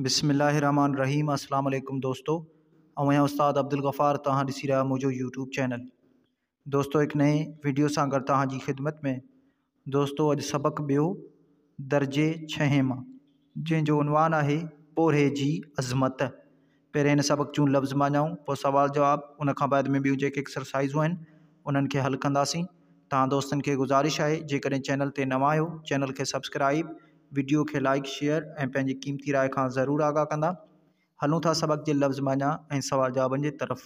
بسم الله الرحمٰن الرحيم اسلام عليڪم دوستو آئون آهيان استاد عبدالغفار توهان ڏسي رهيا آهيو منهنجو يوٽيوب چينل دوستو هڪ نئين ويڊيو سان گڏ توهان جي خدمت ۾ دوستو اڄ سبق ٻيو درجي ڇهين مان جنهن جو عنوان آهي پورهيي جي عظمت پهرين هن سبق جون لفظ معنائون پوء سوال جواب ان کان بعد ۾ ٻيون جيڪي ايڪسرسائيزون آهن انهن کي حل ڪنداسين توهان دوستن کي گذارش آهي جيڪڏهن چينل تي نوان آهيو چينل کي سبسڪرائيب وڊيو کي لائيڪ شيئر ۽ پنهنجي قيمتي راء کان ضرور آگاهه ڪندا هلون ٿا سبق جي لفظ معنيٰ ۽ سوال جوابن جي طرف.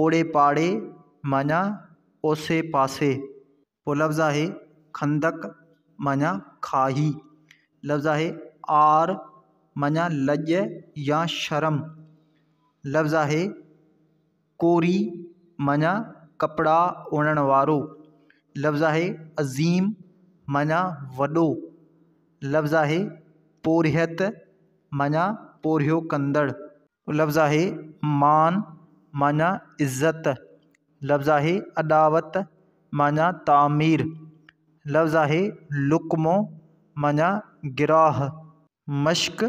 اوڙي پاڙي معنيٰ اوسي پاسي ٻيو لفظ آهي خندق معنيٰ کاهي لفظ آهي عار معنيٰ لڄ يا شرم لفظ آهي ڪوري معنيٰ ڪپڙا اڻڻ وارو لفظ آهي عظيم معنيٰ وڏو لفظ آهي پورهيت معنيٰ پورهيو ڪندڙ لفظ آهي مان معني عزت، لفظ آهي اڏاوت معني تعمير، لفظ آهي لقمو معني گراهه. مشق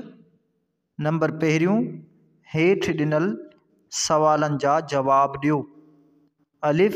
نمبر پهريون، هيٺ ڏنل سوالن جا جواب ڏيو، الف،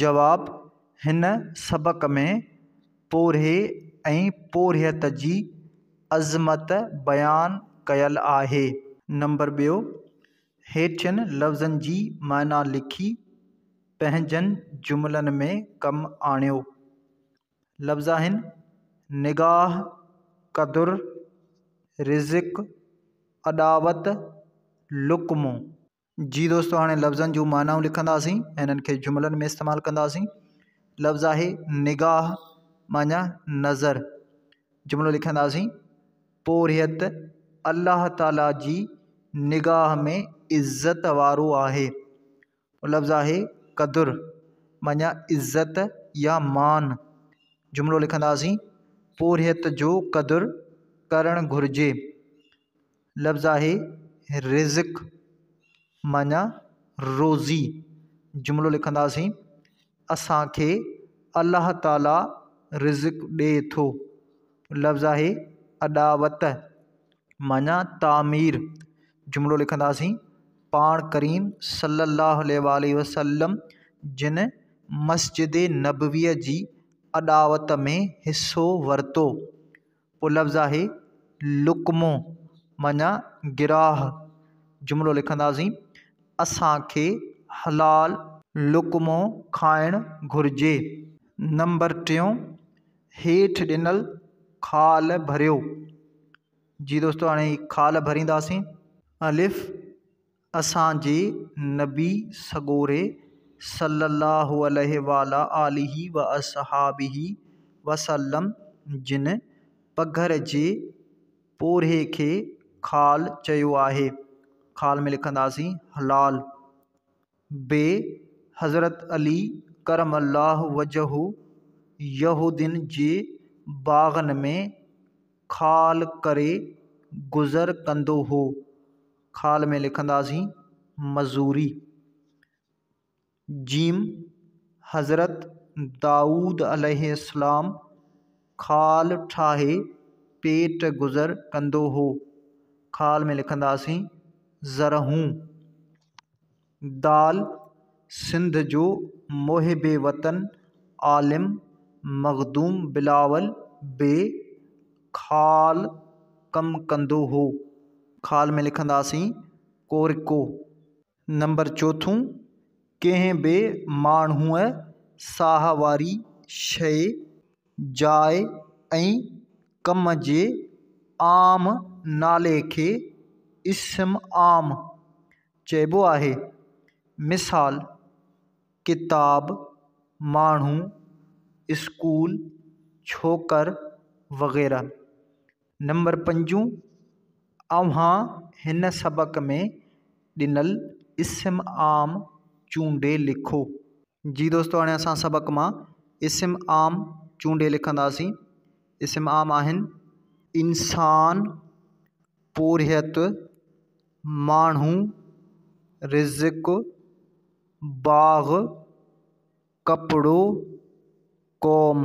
جواب، هن سبق ۾ پورهيي ۽ پورهيت جي عظمت بيان ڪيل آهي. نمبر ٻيو، هيٺين لفظن جي معنيٰ لکي پنهنجن جملن ۾ ڪم آڻيو. لفظ آهن، نگاهه، قدر، رزق، اڏاوت، لقمو. جي دوستو هاڻي لفظن جون معنائون لکنداسين ۽ هنن کي جملن ۾ استعمال ڪنداسين لفظ آهي نگاهه معنيٰ نظر جملو لکنداسين پورهيت الله تعاليٰ جي نگاهه ۾ عزت وارو آهي لفظ آهي قدر معنيٰ عزت يا مان جملو لکنداسين پورهيت جو قدر ڪرڻ گهرجي لفظ آهي رزق معنيٰ روزي جملو لکنداسين اسانکي الله تعاليٰ رزق ڏي ٿو لفظ آهي اڏاوت معنيٰ تعمير جملو لکنداسين پاڻ ڪريم صلّي اللّٰه عليه واٰله وسلّم جن مسجد نبويٰ جي اڏاوت ۾ حصّو ورتو پولفظ آهي لقمو معنيٰ گراهه جملو لکنداسين، اسان کي حلال لقمو کائڻ گهرجي. نمبر ٽيون، هيٺ ڏنل خال ڀريو. جي دوستو هاڻي خال ڀرينداسين. الف، اسان جي نبي سڳوري صلّي اللّٰه عليه وعلٰي آله واصحٰبه وسلّم جن پگهر جي پورهيي کي خال چيو آهي. خال ۾ لکنداسين حلال. ب حضرت علي ڪرم الله وجهه يهودين جي باغن ۾ خال ڪري گذر ڪندو هو. خال ۾ لکنداسين مزوري. ج حضرت دائود عليه السلام خال ٺاهي پيٽ گذر ڪندو هو. خال ۾ لکنداسين زرهون. دال سنڌ جو محب وطن عالم مخدوم بلاول به خال ڪم ڪندو هو. خال ۾ لکنداسين ڪورڪو. نمبر چوٿون، ڪنهن به ماڻهوء ساهه واري شيء، جاء ۽ ڪم جي عام نالي کي اسم عام، چئبو آهي. مثال، ڪتاب، ماڻهو، اسڪول، ڇوڪر وغيره. نمبر پنجون، اوهان هن سبق ۾ ڏنل اسم عام چونڊي لکو. جي دوستو هاڻي اسان سبق مان اسم عام چونڊي لکنداسين. اسم عام آهن. انسان، پورهيت، ماڻهو رزق، باغ، ڪپڙو، قوم.